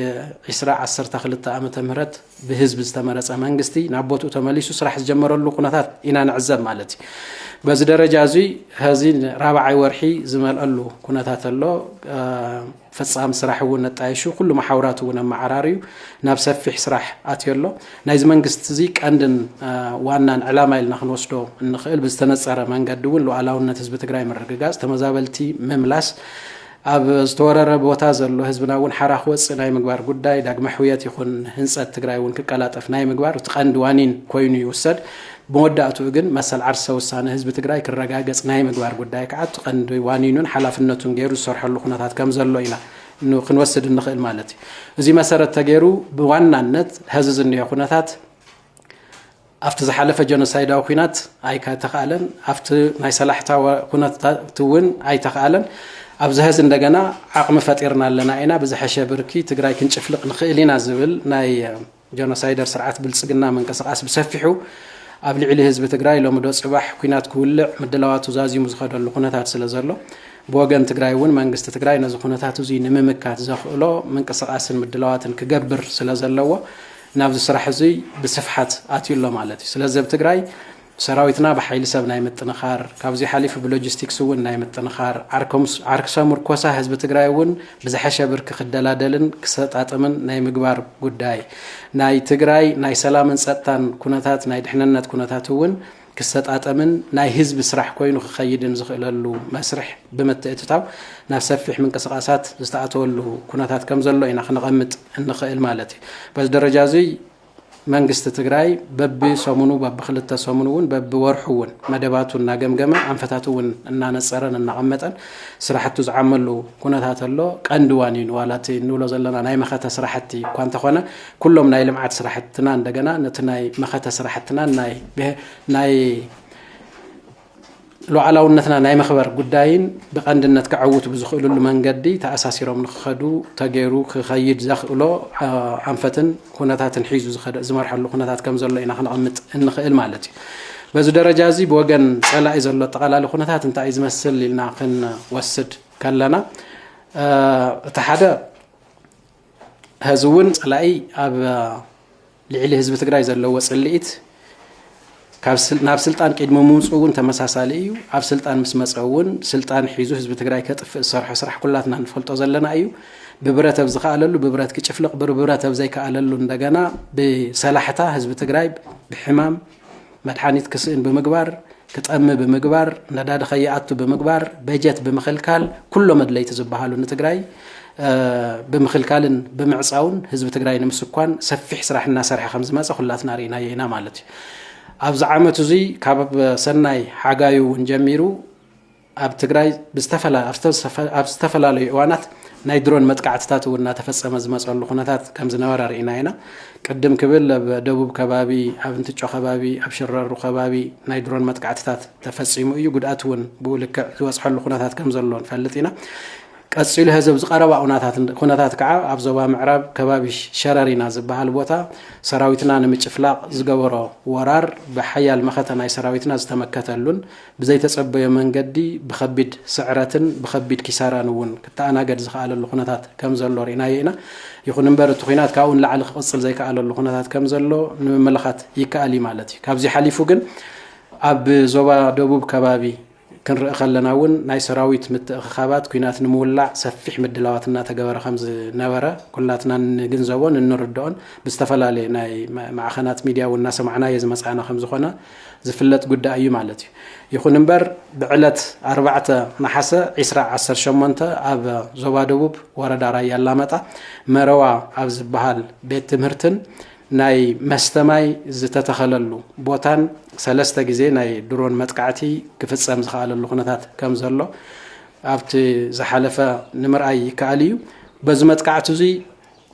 ዕስራ ዓሰርተ ክልተ ዓመተ ምህረት ብህዝቢ ዝተመረፀ መንግስቲ ናብ ቦትኡ ተመሊሱ ስራሕ ዝጀመረሉ ኩነታት ኢና ንዕዘብ ማለት እዩ። በዚ ደረጃ እዙይ ሀዚ ራብዓይ ወርሒ ዝመልኣሉ ኩነታት ኣሎ። ፈፃሚ ስራሕ እውን ኣጣይሹ ኩሉ መሓውራት እውን ኣመዓራርዩ ናብ ሰፊሕ ስራሕ ኣትዮ ኣሎ። ናይዚ መንግስቲ እዚ ቀንድን ዋናን ዕላማ ኢልና ክንወስዶ እንኽእል ብዝተነፀረ መንገዲ እውን ሉኣላውነት ህዝቢ ትግራይ ምርግጋፅ፣ ተመዛበልቲ ምምላስ፣ ኣብ ዝተወረረ ቦታ ዘሎ ህዝብና እውን ሓራ ክወፅእ ናይ ምግባር ጉዳይ፣ ዳግመ ሕውየት ይኹን ህንፀት ትግራይ እውን ክቀላጠፍ ናይ ምግባር እቲ ቀንዲ ዋኒን ኮይኑ ይውሰድ። ብመወዳእትኡ ግን መሰል ዓርሰ ውሳነ ህዝቢ ትግራይ ክረጋገፅ ናይ ምግባር ጉዳይ ከዓ እቲ ቀንዲ ዋኒኑን ሓላፍነቱን ገይሩ ዝሰርሐሉ ኩነታት ከምዘሎ ኢና ክንወስድ እንኽእል ማለት እዩ። እዙይ መሰረት ተገይሩ ብዋናነት ሀዚ ዝኒሀ ኩነታት ኣብቲ ዝሓለፈ ጀኖሳይዳዊ ኩናት ኣይተኽኣለን፣ ኣብቲ ናይ ሰላሕታ ኩነታት እውን ኣይተኽኣለን። ኣብዚ ሀዚ እንደገና ዓቕሚ ፈጢርና ኣለና ኢና፣ ብዝሐሸ ብርኪ ትግራይ ክንጭፍልቕ ንኽእል ኢና ዝብል ናይ ጀኖሳይደር ስርዓት ብልፅግና ምንቅስቓስ ብሰፊሑ ኣብ ልዕሊ ህዝቢ ትግራይ ሎሚ ዶ ፅባሕ ኲናት ክውልዕ ምድላዋቱ ዛዚሙ ዝኸደሉ ኩነታት ስለዘሎ ብወገን ትግራይ እውን መንግስቲ ትግራይ ነዚ ኩነታት እዙይ ንምምካት ዘኽእሎ ምንቅስቓስን ምድላዋትን ክገብር ስለዘለዎ ናብዚ ስራሕ እዙይ ብስፍሓት ኣትዩ ኣሎ ማለት እዩ። ስለዚ ኣብ ትግራይ ሰራዊትና ብሓይሊ ሰብ ናይ ምጥንኻር፣ ካብዙይ ሓሊፉ ብሎጂስቲክስ እውን ናይ ምጥንኻር፣ ዓርሰ ሙርኮሳ ህዝቢ ትግራይ እውን ብዝሐሸ ብርኪ ክደላደልን ክሰጣጥምን ናይ ምግባር ጉዳይ፣ ናይ ትግራይ ናይ ሰላምን ፀጥታን ኩነታት ናይ ድሕንነት ኩነታት እውን ክሰጣጠምን ናይ ህዝቢ ስራሕ ኮይኑ ክኸይድን ዝኽእለሉ መስርሕ ብምትእትታው ናብ ሰፊሕ ምንቅስቓሳት ዝተኣተወሉ ኩነታት ከምዘሎ ኢና ክነቐምጥ እንኽእል ማለት እዩ። በዚ ደረጃ እዙይ መንግስቲ ትግራይ በቢ ሰሙኑ በቢ ክልተ ሰሙን እውን በቢ ወርሑ እውን መደባቱ እናገምገመ ኣንፈታቱ እውን እናነፀረን እናቐመጠን ስራሕቱ ዝዓመሉ ኩነታት ኣሎ። ቀንዲ ዋኒኑ ዋላ እቲ እንብሎ ዘለና ናይ መኸተ ስራሕቲ እኳ እንተኾነ ኩሎም ናይ ልምዓት ስራሕትና እንደገና ነቲ ናይ መኸተ ስራሕትናን ናይ ናይ ሉዓላውነትና ናይ መኽበር ጉዳይን ብቀንድነት ከዐውቱ ብዝኽእልሉ መንገዲ ተኣሳሲሮም ንክኸዱ ተገይሩ ክኸይድ ዘኽእሎ ኣንፈትን ኩነታትን ሒዙ ዝኸደ ዝመርሐሉ ኩነታት ከም ዘሎ ኢና ክነቐምጥ እንኽእል ማለት እዩ። በዚ ደረጃ እዚ ብወገን ጸላኢ ዘሎ ኣጠቓላሊ ኩነታት እንታይ እዩ ዝመስል ኢልና ክንወስድ ከለና እቲ ሓደ ሀዚ እውን ፀላኢ ኣብ ልዕሊ ህዝቢ ትግራይ ዘለዎ ፅልኢት ናብ ስልጣን ቅድሚ ምውፅኡ እውን ተመሳሳሊ እዩ ኣብ ስልጣን ምስ መፀ እውን ስልጣን ሒዙ ህዝቢ ትግራይ ከጥፍእ ዝሰርሖ ስራሕ ኩላትና ንፈልጦ ዘለና እዩ ብብረት ኣብ ዝከኣለሉ ብብረት ክጭፍልቕ ብብረት ኣብ ዘይከኣለሉ እንደገና ብሰላሕታ ህዝቢ ትግራይ ብሕማም መድሓኒት ክስእን ብምግባር፣ ክጠሚ ብምግባር፣ ነዳዲ ከይኣቱ ብምግባር፣ በጀት ብምኽልካል ኩሎም ኣድለይቲ ዝበሃሉ ንትግራይ ብምኽልካልን ብምዕፃውን ህዝቢ ትግራይ ንምስኳን ሰፊሕ ስራሕ እናሰርሐ ከም ዝመፀ ኩላትና ርኢናዮ ኢና ማለት እዩ። ኣብዚ ዓመት እዙይ ካብ ሰናይ ሓጋዩ እውን ጀሚሩ ኣብ ትግራይ ኣብ ዝተፈላለዩ እዋናት ናይ ድሮን መጥቃዕትታት እውን እናተፈፀመ ዝመፀሉ ኩነታት ከም ዝነበረ ርኢና ኢና። ቅድም ክብል ኣብ ደቡብ ከባቢ፣ ኣብ እንትጮ ከባቢ፣ ኣብ ሽረሩ ከባቢ ናይ ድሮን መጥቃዕትታት ተፈፂሙ እዩ። ጉድኣት እውን ብኡ ልክዕ ዝበፅሐሉ ኩነታት ከም ዘሎ ንፈልጥ ኢና። ቀፂሉ ሀዚ ኣብዚ ቀረባ ኩነታት ከዓ ኣብ ዞባ ምዕራብ ከባቢ ሸረሪና ዝበሃል ቦታ ሰራዊትና ንምጭፍላቕ ዝገበሮ ወራር ብሓያል መኸተ ናይ ሰራዊትና ዝተመከተሉን ብዘይተጸበዮ መንገዲ ብኸቢድ ስዕረትን ብኸቢድ ኪሳራን እውን ክተኣናገድ ዝኸኣለሉ ኩነታት ከም ዘሎ ርኢናዮ ኢና። ይኹን እምበር እቲ ኹናት ካብኡ ንላዕሊ ክቕጽል ዘይከኣለሉ ኩነታት ከም ዘሎ ንምምልኻት ይከኣል እዩ ማለት እዩ። ካብዚ ሓሊፉ ግን ኣብ ዞባ ደቡብ ከባቢ ክንርኢ ከለና እውን ናይ ሰራዊት ምትእኽኻባት ኩናት ንምውላዕ ሰፊሕ ምድላዋት እናተገበረ ከም ዝነበረ ኩላትና እንግንዘቦን እንርድኦን ብዝተፈላለየ ናይ ማዕኸናት ሚድያ እውን እናሰማዕናዮ ዝመጻእና ከም ዝኾነ ዝፍለጥ ጉዳይ እዩ ማለት እዩ። ይኹን እምበር ብዕለት ኣርባዕተ ነሓሰ ዒስራ ዓሰርተ ሸሞንተ ኣብ ዞባ ደቡብ ወረዳ ራያ ኣላማጣ መረዋ ኣብ ዝበሃል ቤት ትምህርትን ናይ መስተ ማይ ዝተተኸለሉ ቦታን ሰለስተ ግዜ ናይ ድሮን መጥቃዕቲ ክፍፀም ዝኸኣለሉ ኩነታት ከም ዘሎ ኣብቲ ዝሓለፈ ንምርኣይ ይከኣል እዩ። በዚ መጥቃዕቲ እዙይ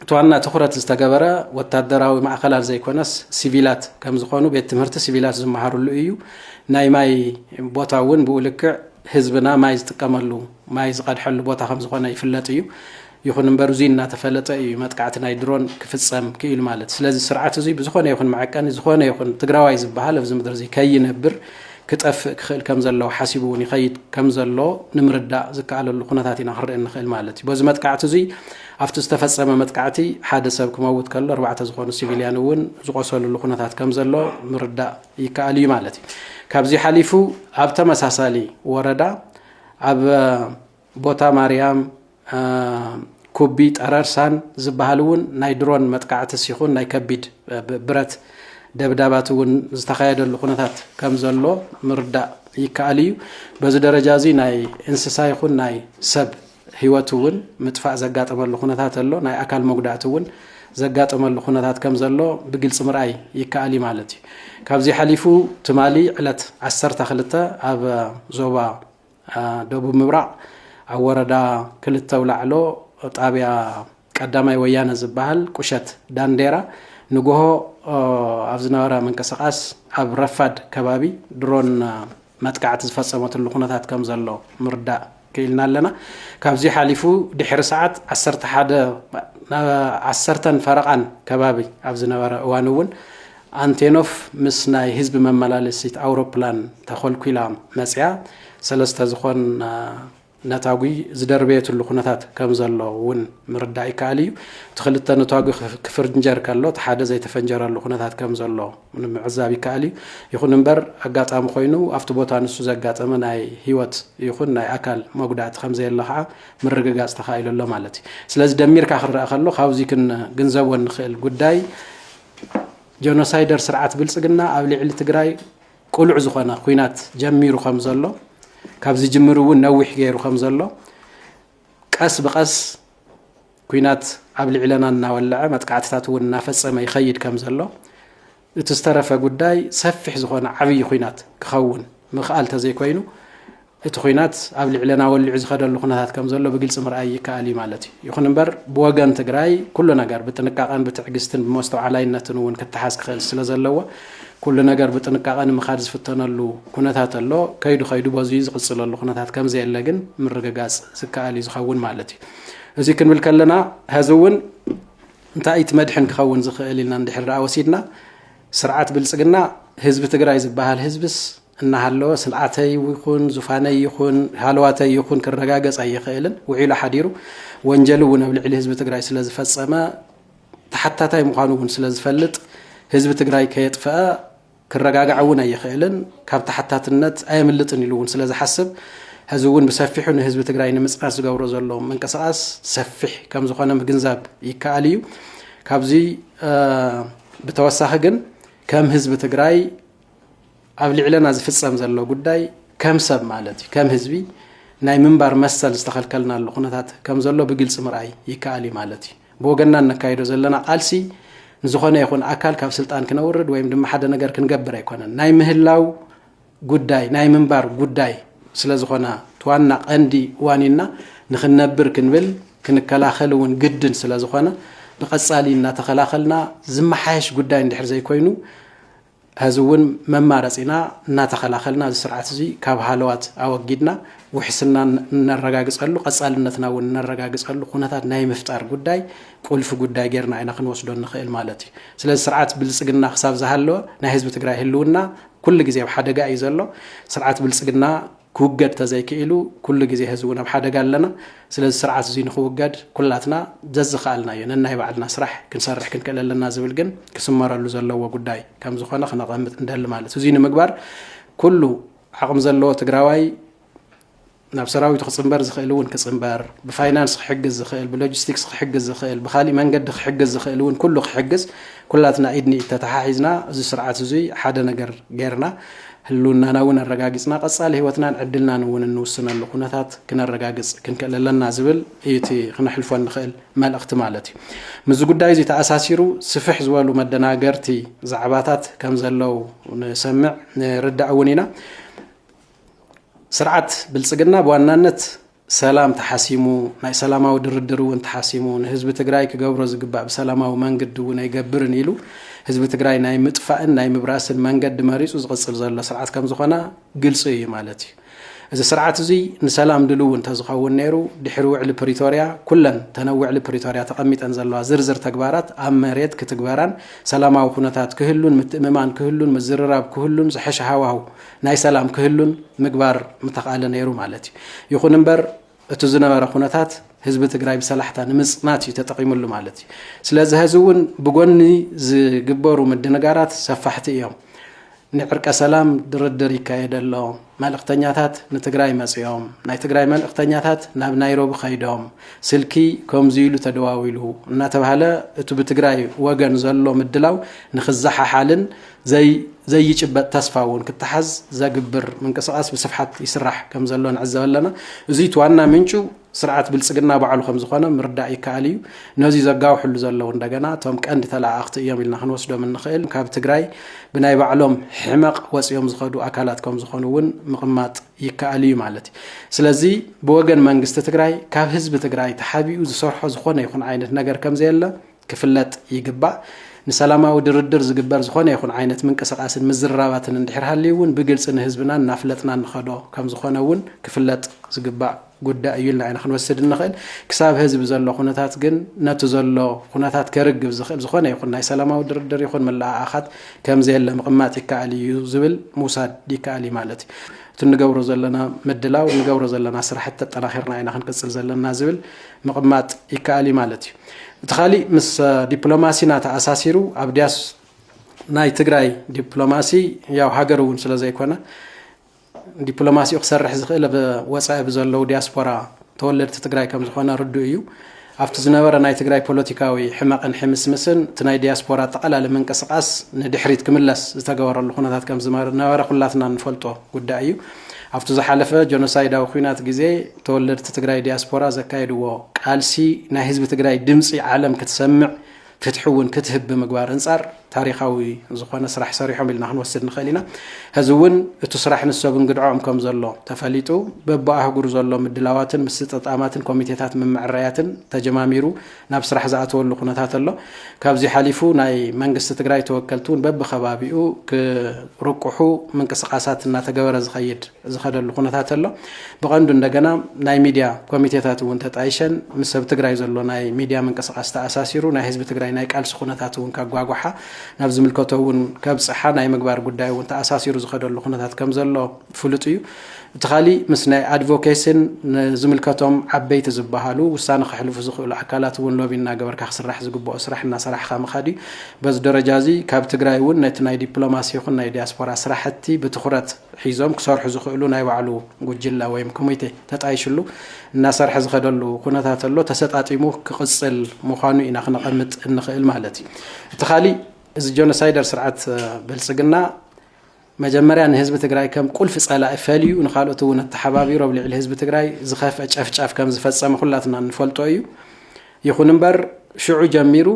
እቲ ዋና ትኹረት ዝተገበረ ወታደራዊ ማእኸላት ዘይኮነስ ሲቪላት ከምዝኾኑ ቤት ትምህርቲ ሲቪላት ዝመሃርሉ እዩ። ናይ ማይ ቦታ እውን ብኡ ልክዕ ህዝብና ማይ ዝጥቀመሉ ማይ ዝቐድሐሉ ቦታ ከምዝኾነ ይፍለጥ እዩ። ይኹን እምበር እዙይ እናተፈለጠ እዩ መጥቃዕቲ ናይ ድሮን ክፍፀም ክኢሉ ማለት። ስለዚ ስርዓት እዙይ ብዝኾነ ይኹን መዐቀኒ ዝኾነ ይኹን ትግራዋይ ዝበሃል ኣብዚ ምድሪ እዙይ ከይነብር ክጠፍእ ክኽእል ከም ዘለዎ ሓሲቡ እውን ይኸይድ ከም ዘሎ ንምርዳእ ዝከኣለሉ ኩነታት ኢና ክንርኢ እንኽእል ማለት እዩ። በዚ መጥቃዕቲ እዙይ ኣብቲ ዝተፈጸመ መጥቃዕቲ ሓደ ሰብ ክመውት ከሎ ኣርባዕተ ዝኾኑ ሲቪልያን እውን ዝቖሰልሉ ኩነታት ከም ዘሎ ምርዳእ ይከኣል እዩ ማለት እዩ። ካብዚ ሓሊፉ ኣብ ተመሳሳሊ ወረዳ ኣብ ቦታ ማርያም ኩቢ ጠረርሳን ዝበሃል እውን ናይ ድሮን መጥቃዕትስ ይኹን ናይ ከቢድ ብረት ደብዳባት እውን ዝተኻየደሉ ኩነታት ከም ዘሎ ምርዳእ ይከኣል እዩ። በዚ ደረጃ እዚ ናይ እንስሳ ይኹን ናይ ሰብ ህይወቱ እውን ምጥፋእ ዘጋጠመሉ ኩነታት ኣሎ፣ ናይ ኣካል መጉዳእቲ እውን ዘጋጠመሉ ኩነታት ከም ዘሎ ብግልፂ ምርኣይ ይከኣል እዩ ማለት እዩ። ካብዚ ሓሊፉ ትማሊ ዕለት ዓሰርተ ክልተ ኣብ ዞባ ደቡብ ምብራቕ ኣብ ወረዳ ክልተ ውላዕሎ ጣብያ ቀዳማይ ወያነ ዝበሃል ቁሸት ዳንዴራ ንጎሆ ኣብ ዝነበረ ምንቅስቓስ ኣብ ረፋድ ከባቢ ድሮን መጥቃዕቲ ዝፈፀመትሉ ኩነታት ከም ዘሎ ምርዳእ ክኢልና ኣለና። ካብዚ ሓሊፉ ድሕሪ ሰዓት ዓሰርተ ሓደ ዓሰርተን ፈረቓን ከባቢ ኣብ ዝነበረ እዋን እውን ኣንቴኖፍ ምስ ናይ ህዝቢ መመላለሲት ኣውሮፕላን ተኾልኲላ መፅያ ሰለስተ ዝኾን ነታጒ ዝደርበየትሉ ኩነታት ከም ዘሎ እውን ምርዳእ ይከኣል እዩ። እቲ ክልተ ነታጒ ክፍርንጀር ከሎ እቲ ሓደ ዘይተፈንጀረሉ ኩነታት ከም ዘሎ ንምዕዛብ ይከኣል እዩ። ይኹን እምበር ኣጋጣሚ ኮይኑ ኣብቲ ቦታ ንሱ ዘጋጠመ ናይ ህይወት ይኹን ናይ ኣካል መጉዳእቲ ከም ዘየለ ከዓ ምርግጋፅ ተኻኢሉ ኣሎ ማለት እዩ። ስለዚ ደሚርካ ክረኣ ከሎ ካብዚ ክንግንዘቦ እንኽእል ጉዳይ ጀኖሳይደር ስርዓት ብልፅግና ኣብ ልዕሊ ትግራይ ቅሉዕ ዝኾነ ኹናት ጀሚሩ ከም ዘሎ ካብ ዝጅምር እውን ነዊሕ ገይሩ ከም ዘሎ ቀስ ብቀስ ኩናት ኣብ ልዕለና እናወለዐ መጥቃዕትታት እውን እናፈፀመ ይኸይድ ከም ዘሎ እቲ ዝተረፈ ጉዳይ ሰፊሕ ዝኾነ ዓብዪ ኩናት ክኸውን ምኽኣል ተዘይኮይኑ እቲ ኹናት ኣብ ልዕለና ወሊዑ ዝኸደሉ ኩነታት ከም ዘሎ ብግልፂ ምርኣይ ይከኣል እዩ ማለት እዩ። ይኹን እምበር ብወገን ትግራይ ኩሉ ነገር ብጥንቃቐን ብትዕግስትን ብመስተውዓላይነትን እውን ክተሓዝ ክኽእል ስለ ዘለዎ ኩሉ ነገር ብጥንቃቐ ንምኻድ ዝፍተነሉ ኩነታት ኣሎ። ከይዱ ከይዱ በዙይ ዝቕፅለሉ ኩነታት ከም ዘየለ ግን ምርግጋፅ ዝከኣል እዩ ዝኸውን ማለት እዩ። እዙይ ክንብል ከለና ሀዚ እውን እንታይ እቲ መድሕን ክኸውን ዝኽእል ኢልና እንድሕር ደኣ ወሲድና ስርዓት ብልፅግና ህዝቢ ትግራይ ዝበሃል ህዝብስ እናሃለወ ስልዓተይ ይኹን ዙፋነይ ይኹን ሃለዋተይ ይኹን ክረጋገፅ ኣይኽእልን። ውዒሉ ሓዲሩ ወንጀል እውን ኣብ ልዕሊ ህዝቢ ትግራይ ስለዝፈፀመ ተሓታታይ ምዃኑ እውን ስለዝፈልጥ ህዝቢ ትግራይ ከየጥፈኣ ክረጋጋዕ እውን ኣይኽእልን፣ ካብ ተሓታትነት ኣየምልጥን ኢሉ እውን ስለዝሓስብ ሕዚ እውን ብሰፊሑ ንህዝቢ ትግራይ ንምፅናት ዝገብሮ ዘሎ ምንቅስቓስ ሰፊሕ ከምዝኾነ ምግንዛብ ይከኣል እዩ። ካብዚ ብተወሳኺ ግን ከም ህዝቢ ትግራይ ኣብ ልዕለና ዝፍጸም ዘሎ ጉዳይ ከም ሰብ ማለት እዩ ከም ህዝቢ ናይ ምንባር መሰል ዝተኸልከልናሉ ኩነታት ከም ዘሎ ብግልፂ ምርኣይ ይከኣል እዩ ማለት እዩ ብወገንና እነካይዶ ዘለና ቃልሲ ንዝኾነ ይኹን ኣካል ካብ ስልጣን ክነውርድ ወይም ድማ ሓደ ነገር ክንገብር ኣይኮነን ናይ ምህላው ጉዳይ ናይ ምንባር ጉዳይ ስለ ዝኾነ ትዋና ቀንዲ ዋኒና ንክንነብር ክንብል ክንከላኸል እውን ግድን ስለ ዝኾነ ንቐፃሊ እናተኸላኸልና ዝመሓየሽ ጉዳይ እንድሕር ዘይኮይኑ ሐዚ እውን መማረፂና እናተኸላኸልና እዚ ስርዓት እዚ ካብ ሃለዋት ኣወጊድና ውሕስና እነረጋግፀሉ ቐፃልነትና እውን እነረጋግፀሉ ኩነታት ናይ ምፍጣር ጉዳይ ቁልፊ ጉዳይ ጌርና ኢና ክንወስዶ እንኽእል ማለት እዩ። ስለዚ ስርዓት ብልፅግና ክሳብ ዝሃለወ ናይ ህዝቢ ትግራይ ህልውና ኩሉ ግዜ ኣብ ሓደጋ እዩ ዘሎ። ስርዓት ብልፅግና ክውገድ ተዘይክኢሉ ኩሉ ግዜ ሀዚ እውን ኣብ ሓደጋ ኣለና ስለዚ ስርዓት እዙይ ንክውገድ ኩላትና ዘዝኸኣልናዮ ነናይ ባዕልና ስራሕ ክንሰርሕ ክንክእል ኣለና ዝብል ግን ክስመረሉ ዘለዎ ጉዳይ ከምዝኾነ ክነቐምጥ ንደሊ ማለት እዙይ ንምግባር ኩሉ ዓቕሚ ዘለዎ ትግራዋይ ናብ ሰራዊቱ ክፅምበር ዝኽእል እውን ክፅምበር ብፋይናንስ ክሕግዝ ዝኽእል ብሎጂስቲክስ ክሕግዝ ዝኽእል ብካሊእ መንገዲ ክሕግዝ ዝኽእል እውን ኩሉ ክሕግዝ ኩላትና ኢድ ንኢድ ተተሓሒዝና እዚ ስርዓት እዙይ ሓደ ነገር ገይርና ህልውናና እውን ኣረጋጊፅና ቀፃሊ ህይወትናን ዕድልናን እውን እንውስነሉ ኩነታት ክነረጋግፅ ክንክእል ኣለና ዝብል እዩ እቲ ክነሕልፎ እንኽእል መልእኽቲ ማለት እዩ። ምስዚ ጉዳይ እዚ ተኣሳሲሩ ስፍሕ ዝበሉ መደናገርቲ ዛዕባታት ከም ዘለው ንሰምዕ ንርዳእ እውን ኢና። ስርዓት ብልፅግና ብዋናነት ሰላም ተሓሲሙ ናይ ሰላማዊ ድርድር እውን ተሓሲሙ ንህዝቢ ትግራይ ክገብሮ ዝግባእ ብሰላማዊ መንግዲ እውን ኣይገብርን ኢሉ ህዝቢ ትግራይ ናይ ምጥፋእን ናይ ምብራስን መንገዲ መሪፁ ዝቕፅል ዘሎ ስርዓት ከም ዝኾነ ግልፂ እዩ ማለት እዩ እዚ ስርዓት እዙይ ንሰላም ድልው እንተዝኸውን ነይሩ ድሕሪ ውዕሊ ፕሪቶርያ ኩለን ተነ ውዕሊ ፕሪቶርያ ተቐሚጠን ዘለዋ ዝርዝር ተግባራት ኣብ መሬት ክትግበራን ሰላማዊ ኩነታት ክህሉን ምትእምማን ክህሉን ምዝርራብ ክህሉን ዝሐሸ ሃዋህው ናይ ሰላም ክህሉን ምግባር ምተኽኣለ ነይሩ ማለት እዩ። ይኹን እምበር እቱ ዝነበረ ኩነታት ህዝቢ ትግራይ ብሰላሕታ ንምፅናት እዩ ተጠቒምሉ ማለት እዩ። ስለዚ ሀዚ እውን ብጎኒ ዝግበሩ ምድንጋራት ሰፋሕቲ እዮም። ንዕርቀ ሰላም ድርድር ይካየደ ኣሎ። መልእኽተኛታት ንትግራይ መፂኦም፣ ናይ ትግራይ መልእኽተኛታት ናብ ናይሮቢ ከይዶም፣ ስልኪ ከምዙይ ኢሉ ተደዋዊሉ እናተብሃለ እቱ ብትግራይ ወገን ዘሎ ምድላው ንክዘሓሓልን ዘይ ዘይጭበጥ ተስፋ እውን ክተሓዝ ዘግብር ምንቅስቓስ ብስፍሓት ይስራሕ ከም ዘሎ ንዕዘብ ኣለና። እዙይ እቲ ዋና ምንጩ ስርዓት ብልፅግና ባዕሉ ከም ዝኾነ ምርዳእ ይከኣል እዩ። ነዙይ ዘጋውሕሉ ዘለዉ እንደገና እቶም ቀንዲ ተለኣኣኽቲ እዮም ኢልና ክንወስዶም እንኽእል ካብ ትግራይ ብናይ ባዕሎም ሕመቕ ወፂኦም ዝኸዱ ኣካላት ከም ዝኾኑ እውን ምቕማጥ ይከኣል እዩ ማለት እዩ። ስለዚ ብወገን መንግስቲ ትግራይ ካብ ህዝቢ ትግራይ ተሓቢኡ ዝሰርሖ ዝኾነ ይኹን ዓይነት ነገር ከም ዘየለ ክፍለጥ ይግባእ። ንሰላማዊ ድርድር ዝግበር ዝኾነ ይኹን ዓይነት ምንቅስቓስን ምዝርራባትን እንድሕር ሃልዩ እውን ብግልፂ ንህዝብና እናፍለጥና እንኸዶ ከምዝኾነ እውን ክፍለጥ ዝግባእ ጉዳይ እዩ ኢልና ኢና ክንወስድ እንኽእል። ክሳብ ሀዚ ብዘሎ ኩነታት ግን ነቲ ዘሎ ኩነታት ከርግብ ዝኽእል ዝኾነ ይኹን ናይ ሰላማዊ ድርድር ይኹን ምልኣኣኻት ከምዘየለ ምቕማጥ ይከኣል እዩ ዝብል ምውሳድ ይከኣል እዩ ማለት እዩ። እቲ እንገብሮ ዘለና ምድላው እንገብሮ ዘለና ስራሕቲ ተጠናኺርና ኢና ክንቅፅል ዘለና ዝብል ምቕማጥ ይከኣል እዩ ማለት እዩ። እቲ ካሊእ ምስ ዲፕሎማሲና ተኣሳሲሩ ኣብ ዲያስ ናይ ትግራይ ዲፕሎማሲ ያው ሃገር እውን ስለ ዘይኮነ ዲፕሎማሲኡ ክሰርሕ ዝኽእል ኣብ ወፃኢ ብዘለዉ ዲያስፖራ ተወለድቲ ትግራይ ከም ዝኾነ ርዱእ እዩ። ኣብቲ ዝነበረ ናይ ትግራይ ፖለቲካዊ ሕመቕን ሕምስምስን እቲ ናይ ዲያስፖራ ኣጠቓላሊ ምንቅስቓስ ንድሕሪት ክምለስ ዝተገበረሉ ኩነታት ከም ዝነበረ ኩላትና እንፈልጦ ጉዳይ እዩ። ኣብቲ ዝሓለፈ ጀኖሳይዳዊ ኲናት ግዜ ተወለድቲ ትግራይ ዲያስፖራ ዘካየድዎ ቃልሲ ናይ ህዝቢ ትግራይ ድምፂ ዓለም ክትሰምዕ ፍትሒ እውን ክትህብ ብምግባር እንፃር ታሪኻዊ ዝኾነ ስራሕ ሰሪሖም ኢልና ክንወስድ ንኽእል ኢና። ሕዚ እውን እቲ ስራሕ ንሰብ እንግድዖኦም ከም ዘሎ ተፈሊጡ በቢ ኣህጉር ዘሎ ምድላዋትን ምስጥጣማትን ኮሚቴታት ምምዕራያትን ተጀማሚሩ ናብ ስራሕ ዝኣተወሉ ኩነታት ኣሎ። ካብዚ ሓሊፉ ናይ መንግስቲ ትግራይ ተወከልቲ እውን በቢከባቢኡ ክርቁሑ ምንቅስቃሳት እናተገበረ ዝኸይድ ዝኸደሉ ኩነታት ኣሎ። ብቐንዱ እንደገና ናይ ሚድያ ኮሚቴታት እውን ተጣይሸን ምስ ሰብ ትግራይ ዘሎ ናይ ሚድያ ምንቅስቃስ ተኣሳሲሩ ናይ ህዝቢ ትግራይ ናይ ቃልሲ ኩነታት እውን ከጓጓሓ ናብ ዝምልከቶ እውን ከብፅሓ ናይ ምግባር ጉዳይ እውን ተኣሳሲሩ ዝኸደሉ ኩነታት ከምዘሎ ፍሉጥ እዩ። እቲ ካሊእ ምስ ናይ ኣድቮኬሲን ንዝምልከቶም ዓበይቲ ዝበሃሉ ውሳነ ከሕልፉ ዝኽእሉ ኣካላት እውን ሎቢ እናገበርካ ክስራሕ ዝግበኦ ስራሕ እናሰራሕኻ ምኻድ እዩ። በዚ ደረጃ እዚ ካብ ትግራይ እውን ነቲ ናይ ዲፕሎማሲ ይኹን ናይ ዲያስፖራ ስራሕቲ ብትኹረት ሒዞም ክሰርሑ ዝኽእሉ ናይ ባዕሉ ጉጅለ ወይም ኮሚቴ ተጣይሽሉ እናሰርሐ ዝኸደሉ ኩነታት ኣሎ። ተሰጣጢሙ ክቕፅል ምዃኑ ኢና ክነቐምጥ እንኽእል ማለት እዩ። እቲ ካሊእ እዚ ጆኖሳይደር ስርዓት ብልፅግና መጀመርያ ንህዝቢ ትግራይ ከም ቁልፊ ፀላኢ ፈልዩ ንካልኦት እውን ኣተሓባቢሩ ኣብ ልዕሊ ህዝቢ ትግራይ ዝኸፍአ ጨፍጫፍ ከም ዝፈፀመ ኩላትና እንፈልጦ እዩ። ይኹን እምበር ሽዑ ጀሚሩ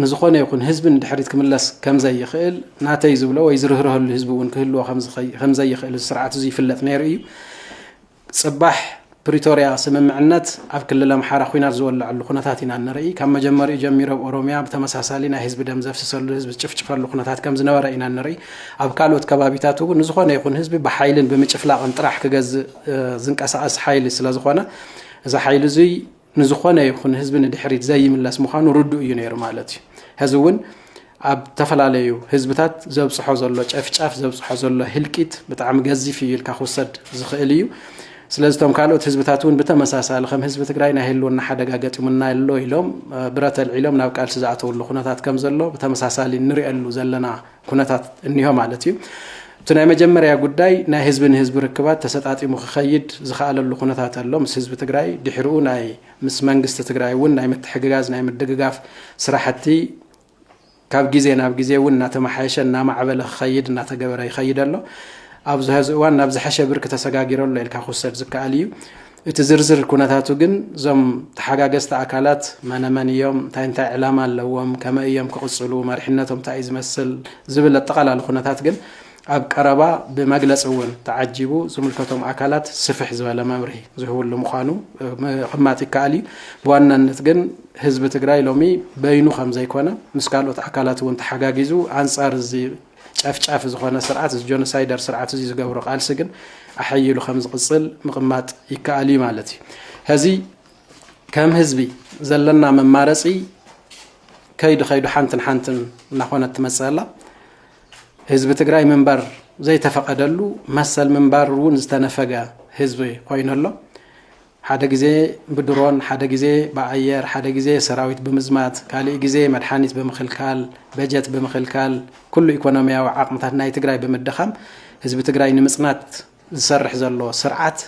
ንዝኾነ ይኹን ህዝቢ ንድሕሪት ክምለስ ከም ዘይኽእል ናተይ ዝብሎ ወይ ዝርህርሀሉ ህዝቢ እውን ክህልዎ ከም ዘይኽእል እዚ ስርዓት እዚ ይፍለጥ ነይሩ እዩ። ፅባሕ ፕሪቶርያ ስምምዕነት ኣብ ክልል ኣምሓራ ኹናት ዝወለዐሉ ኩነታት ኢና እንርኢ። ካብ መጀመሪኡ ጀሚሩ ኣብ ኦሮሚያ ብተመሳሳሊ ናይ ህዝቢ ደም ዘፍስሰሉ ህዝቢ ዝጭፍጭፈሉ ኩነታት ከምዝነበረ ኢና እንርኢ። ኣብ ካልኦት ከባቢታት እውን ንዝኾነ ይኹን ህዝቢ ብሓይልን ብምጭፍላቕን ጥራሕ ክገዝእ ዝንቀሳቐስ ሓይሊ ስለዝኾነ እዚ ሓይሊ እዙይ ንዝኾነ ይኹን ህዝቢ ንድሕሪት ዘይምለስ ምዃኑ ርዱእ እዩ ነይሩ ማለት እዩ። ሕዚ እውን ኣብ ዝተፈላለዩ ህዝብታት ዘብፅሖ ዘሎ ጨፍጫፍ ዘብፅሖ ዘሎ ህልቂት ብጣዕሚ ገዚፍ እዩ ኢልካ ክውሰድ ዝኽእል እዩ። ስለዚ እቶም ካልኦት ህዝብታት እውን ብተመሳሳሊ ከም ህዝቢ ትግራይ ናይ ህልውና ሓደጋ ገጢሙና ኣሎ ኢሎም ብረት ኣልዒሎም ናብ ቃልሲ ዝኣተውሉ ኩነታት ከም ዘሎ ብተመሳሳሊ ንሪኦሉ ዘለና ኩነታት እኒሆ ማለት እዩ። እቲ ናይ መጀመርያ ጉዳይ ናይ ህዝቢ ንህዝቢ ርክባት ተሰጣጢሙ ክኸይድ ዝኸኣለሉ ኩነታት ኣሎ ምስ ህዝቢ ትግራይ ድሕርኡ ናይ ምስ መንግስቲ ትግራይ እውን ናይ ምትሕግጋዝ ናይ ምድግጋፍ ስራሕቲ ካብ ግዜ ናብ ግዜ እውን እናተመሓየሸ እናማዕበለ ክኸይድ እናተገበረ ይኸይድ ኣሎ ኣብዚ ሀዚ እዋን ናብ ዝሐሸ ብርኪ ተሰጋጊሮ ኣሎ ኢልካ ክውሰድ ዝከኣል እዩ እቲ ዝርዝር ኩነታቱ ግን እዞም ተሓጋገዝቲ ኣካላት መነመን እዮም፣ እንታይ እንታይ ዕላማ ኣለዎም፣ ከመይ እዮም ክቕፅሉ፣ መሪሕነቶም እንታይ እዩ ዝመስል ዝብል ኣጠቓላሊ ኩነታት ግን ኣብ ቀረባ ብመግለፂ እውን ተዓጂቡ ዝምልከቶም ኣካላት ስፍሕ ዝበለ መብርሂ ዝህብሉ ምዃኑ ምቕማጥ ይከኣል እዩ። ብዋናነት ግን ህዝቢ ትግራይ ሎሚ በይኑ ከም ዘይኮነ ምስ ካልኦት ኣካላት እውን ተሓጋጊዙ ኣንፃር እዚ ጨፍጫፊ ዝኾነ ስርዓት እዚ ጆኖሳይደር ስርዓት እዚ ዝገብሮ ቃልሲ ግን ኣሐይሉ ከም ዝቕፅል ምቕማጥ ይከኣል እዩ ማለት እዩ ሕዚ ከም ህዝቢ ዘለና መማረፂ ከይዱ ከይዱ ሓንትን ሓንትን እናኾነት ትመፅእ ኣላ ህዝቢ ትግራይ ምንባር ዘይተፈቐደሉ መሰል ምንባር እውን ዝተነፈገ ህዝቢ ኮይኑ ኣሎ ሓደ ግዜ ብድሮን፣ ሓደ ግዜ ብኣየር፣ ሓደ ግዜ ሰራዊት ብምዝማት፣ ካሊእ ግዜ መድሓኒት ብምኽልካል፣ በጀት ብምኽልካል፣ ኩሉ ኢኮኖሚያዊ ዓቕምታት ናይ ትግራይ ብምድኻም ህዝቢ ትግራይ ንምፅናት ዝሰርሕ ዘሎ ስርዓት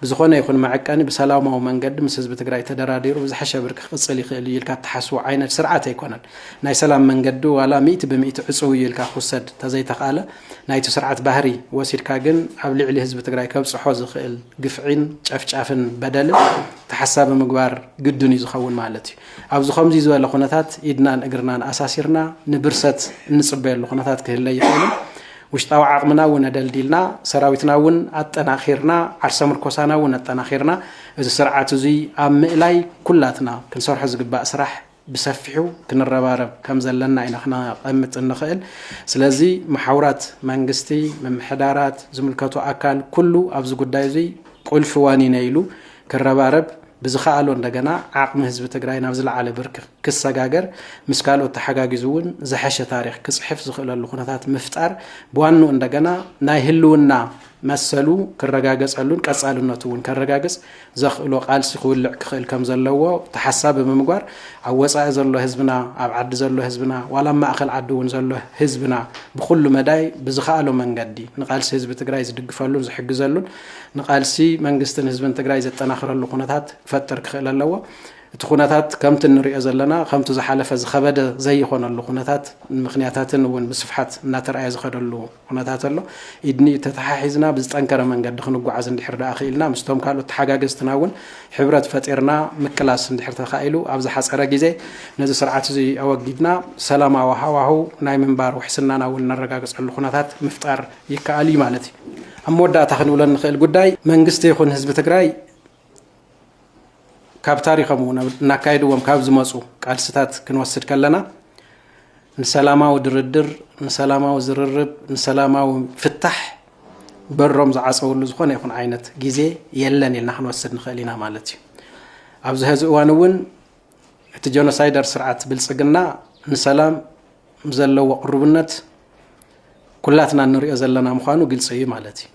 ብዝኾነ ይኹን መዐቀኒ ብሰላማዊ መንገዲ ምስ ህዝቢ ትግራይ ተደራዲሩ ብዝሐሸ ብርኪ ክቕፅል ይኽእል እዩ ኢልካ እትሓስቦ ዓይነት ስርዓት ኣይኮነን። ናይ ሰላም መንገዲ ዋላ ሚእቲ ብሚእቲ ዕፅው እዩ ኢልካ ክውሰድ ተዘይተኽኣለ፣ ናይቲ ስርዓት ባህሪ ወሲድካ ግን ኣብ ልዕሊ ህዝቢ ትግራይ ከብፅሖ ዝኽእል ግፍዒን ጨፍጫፍን በደልን ተሓሳቢ ምግባር ግድን እዩ ዝኸውን ማለት እዩ። ኣብዚ ከምዚ ዝበለ ኩነታት ኢድናን እግርናን ኣሳሲርና ንብርሰት እንፅበየሉ ኩነታት ክህለ ይኽእልን ውሽጣዊ ዓቕምና እውን ኣደልዲልና ሰራዊትና እውን ኣጠናኺርና ዓርሰ ምርኮሳና እውን ኣጠናኺርና እዚ ስርዓት እዙይ ኣብ ምእላይ ኩላትና ክንሰርሖ ዝግባእ ስራሕ ብሰፊሑ ክንረባረብ ከም ዘለና ኢና ክነቐምጥ እንኽእል። ስለዚ መሓውራት መንግስቲ፣ ምምሕዳራት፣ ዝምልከቶ ኣካል ኩሉ ኣብዚ ጉዳይ እዙይ ቁልፊ ዋኒነይ ኢሉ ክረባረብ ብዝኸኣሎ እንደገና ዓቕሚ ህዝቢ ትግራይ ናብ ዝለዓለ ብርኪ ክሰጋገር ምስ ካልኦት ተሓጋጊዙ እውን ዝሐሸ ታሪኽ ክፅሕፍ ዝኽእለሉ ኩነታት ምፍጣር ብዋንኡ እንደገና ናይ ህልውና መሰሉ ክረጋገጸሉን ቀጻልነቱ እውን ከረጋግጽ ዘኽእሎ ቃልሲ ክውልዕ ክኽእል ከም ዘለዎ ተሓሳቢ ብምግባር ኣብ ወጻኢ ዘሎ ህዝብና፣ ኣብ ዓዲ ዘሎ ህዝብና ዋላ ኣብ ማእከል ዓዲ እውን ዘሎ ህዝብና ብኹሉ መዳይ ብዝኸኣሎ መንገዲ ንቃልሲ ህዝቢ ትግራይ ዝድግፈሉን ዝሕግዘሉን ንቃልሲ መንግስትን ህዝብን ትግራይ ዘጠናኽረሉ ኩነታት ክፈጥር ክኽእል ኣለዎ። እቲ ኩነታት ከምቲ እንሪኦ ዘለና ከምቲ ዝሓለፈ ዝኸበደ ዘይኾነሉ ኩነታት ምኽንያታትን እውን ብስፍሓት እናተርኣየ ዝኸደሉ ኩነታት ኣሎ። ኢድ ንኢድ ተተሓሒዝና ብዝጠንከረ መንገዲ ክንጓዓዝ እንድሕር ደኣ ክኢልና፣ ምስቶም ካልኦት ተሓጋገዝትና እውን ሕብረት ፈጢርና ምቅላስ እንድሕር ተኻኢሉ፣ ኣብ ዝሓጸረ ግዜ ነዚ ስርዓት እዚ ኣወጊድና ሰላማዊ ሃዋህው ናይ ምንባር ውሕስናና እውን እነረጋግጸሉ ኩነታት ምፍጣር ይከኣል እዩ ማለት እዩ። ኣብ መወዳእታ ክንብሎ እንኽእል ጉዳይ መንግስቲ ይኹን ህዝቢ ትግራይ፣ ካብ ታሪኾም እውን እናካየድዎም ካብ ዝመፁ ቃልስታት ክንወስድ ከለና ንሰላማዊ ድርድር፣ ንሰላማዊ ዝርርብ፣ ንሰላማዊ ፍታሕ በሮም ዝዓፀውሉ ዝኾነ ይኹን ዓይነት ግዜ የለን ኢልና ክንወስድ ንኽእል ኢና ማለት እዩ። ኣብዚ ሀዚ እዋን እውን እቲ ጀኖሳይደር ስርዓት ብልፅግና ንሰላም ዘለዎ ቅሩብነት ኩላትና እንሪኦ ዘለና ምዃኑ ግልፂ እዩ ማለት እዩ።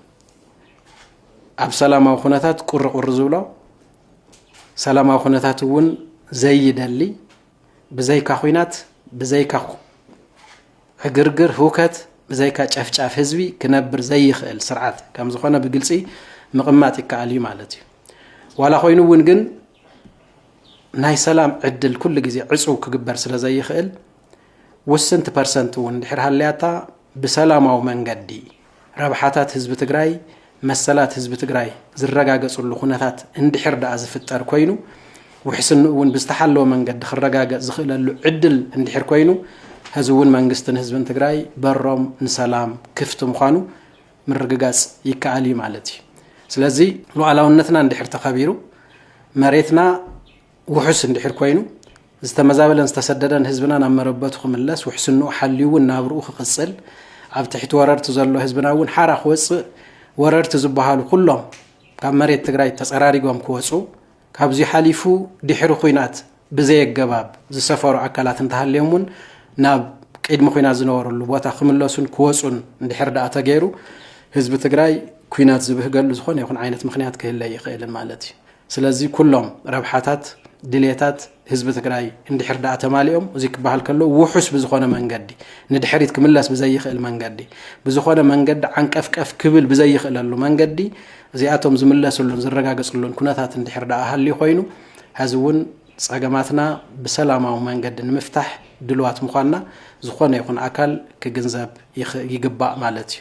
ኣብ ሰላማዊ ኩነታት ቁርቁር ዝብሎ ሰላማዊ ኩነታት እውን ዘይደሊ ብዘይካ ኩናት ብዘይካ ዕግርግር ህውከት ብዘይካ ጨፍጫፍ ህዝቢ ክነብር ዘይኽእል ስርዓት ከም ዝኾነ ብግልፂ ምቕማጥ ይከኣል እዩ ማለት እዩ ዋላ ኮይኑ እውን ግን ናይ ሰላም ዕድል ኩሉ ግዜ ዕፁው ክግበር ስለ ዘይኽእል ውስንቲ ፐርሰንት እውን እንድሕር ሃልያታ ብሰላማዊ መንገዲ ረብሓታት ህዝቢ ትግራይ፣ መሰላት ህዝቢ ትግራይ ዝረጋገፅሉ ኩነታት እንድሕር ድኣ ዝፍጠር ኮይኑ፣ ውሕስንኡ እውን ብዝተሓለወ መንገዲ ክረጋገፅ ዝኽእለሉ ዕድል እንድሕር ኮይኑ ሐዚ እውን መንግስትን ህዝብን ትግራይ በሮም ንሰላም ክፍቲ ምዃኑ ምርግጋፅ ይከኣል እዩ ማለት እዩ። ስለዚ ሉኣላውነትና እንድሕር ተኸቢሩ መሬትና ውሑስ እንድሕር ኮይኑ ዝተመዛበለን ዝተሰደደን ህዝብና ናብ መረበቱ ክምለስ ውሕስንኡ ሓልዩ እውን ናብርኡ ክቕፅል ኣብ ትሕቲ ወረርቲ ዘሎ ህዝብና እውን ሓራ ክወፅእ ወረርቲ ዝበሃሉ ኩሎም ካብ መሬት ትግራይ ተፀራሪጎም ክወፁ ካብዚ ሓሊፉ ድሕሪ ኩናት ብዘየገባብ ዝሰፈሩ ኣካላት እንተሃልዮም እውን ናብ ቅድሚ ኩናት ዝነበረሉ ቦታ ክምለሱን ክወፁን እንድሕር ደኣ ተገይሩ ህዝቢ ትግራይ ኩናት ዝብህገሉ ዝኾነ ይኹን ዓይነት ምክንያት ክህለ ይኽእልን ማለት እዩ ስለዚ ኩሎም ረብሓታት ድልየታት ህዝቢ ትግራይ እንድሕር ደኣ ተማሊኦም እዙይ ክበሃል ከሎ ውሑስ ብዝኾነ መንገዲ ንድሕሪት ክምለስ ብዘይኽእል መንገዲ ብዝኾነ መንገዲ ዓንቀፍቀፍ ክብል ብዘይኽእለሉ መንገዲ እዚኣቶም ዝምለስሉን ዝረጋገፅሉን ኩነታት እንድሕር ደኣ ሃልዩ ኮይኑ ሀዚ እውን ፀገማትና ብሰላማዊ መንገዲ ንምፍታሕ ድልዋት ምዃንና ዝኾነ ይኹን ኣካል ክግንዘብ ይግባእ ማለት እዩ።